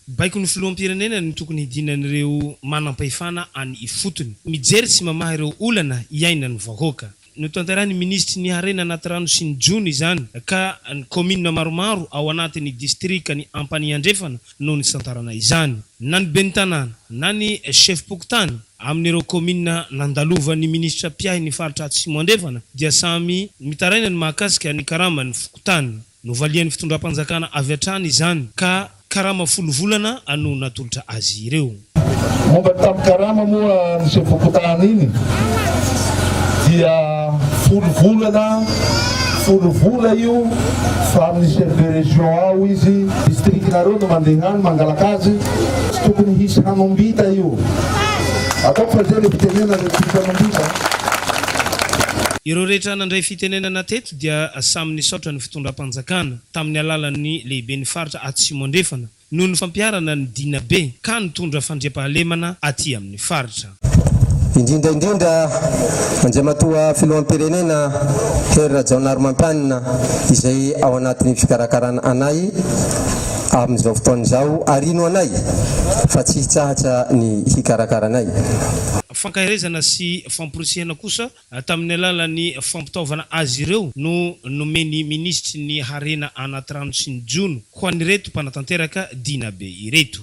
Baikon'ny filoham-pirenena no tokony hidinan'ireo manam-pahefana any ifotony. Mijery sy mamaha ireo olana iainan'ny vahoaka. Notanterahin'ny minisitry ny harena anaty rano sy ny jono izany ka ny kaominina maromaro ao anatin'ny distrikan'i Ampanihy Andrefana no nisantarana izany. Na ny ben'ny tanàna na ny sefom-pokontany amin'ireo kaominina nandalovan'ny minisitra mpiahy ny faritra Atsimo Andrefana dia samy mitaraina ny mahakasika ny karaman'ny fokontany. Novalian'ny fitondram-panjakana avy hatrany izany ka karama folo volana no natolotra azy ireo. Momba ny tambin-karama moa amin'izay fokontany iny dia folo volana, folo vola io fa amin'ny chef de région ao izy, district-nareo no mandeha any mangalaka azy, tsy tokony hisy hanombita io. Ataoko fa izay ilay fitenenana, tsy misy hanombita. Ireo rehetra nandray fitenenana teto dia samy nisaotra ny fitondram-panjakana tamin'ny alalan'ny lehiben'ny faritra Atsimo Andrefana noho ny fampiharana ny Dina be ka nitondra fandriampahalemana aty amin'ny faritra. Indrindra indrindra Andriamatoa Filoham-pirenena Hery Rajaonarimampianina izay ao anatin'ny fikarakarana anay amin'izao fotoana izao ary hino anay fa tsy hitsahatra ny hikarakara anay. Fankaherezana sy famporisihana kosa Tamin'ny alalan'ny fampitaovana azy ireo no nomen'ny minisitry ny harena anaty rano sy ny jono ho an'ireto mpanatanteraka Dinabe ireto.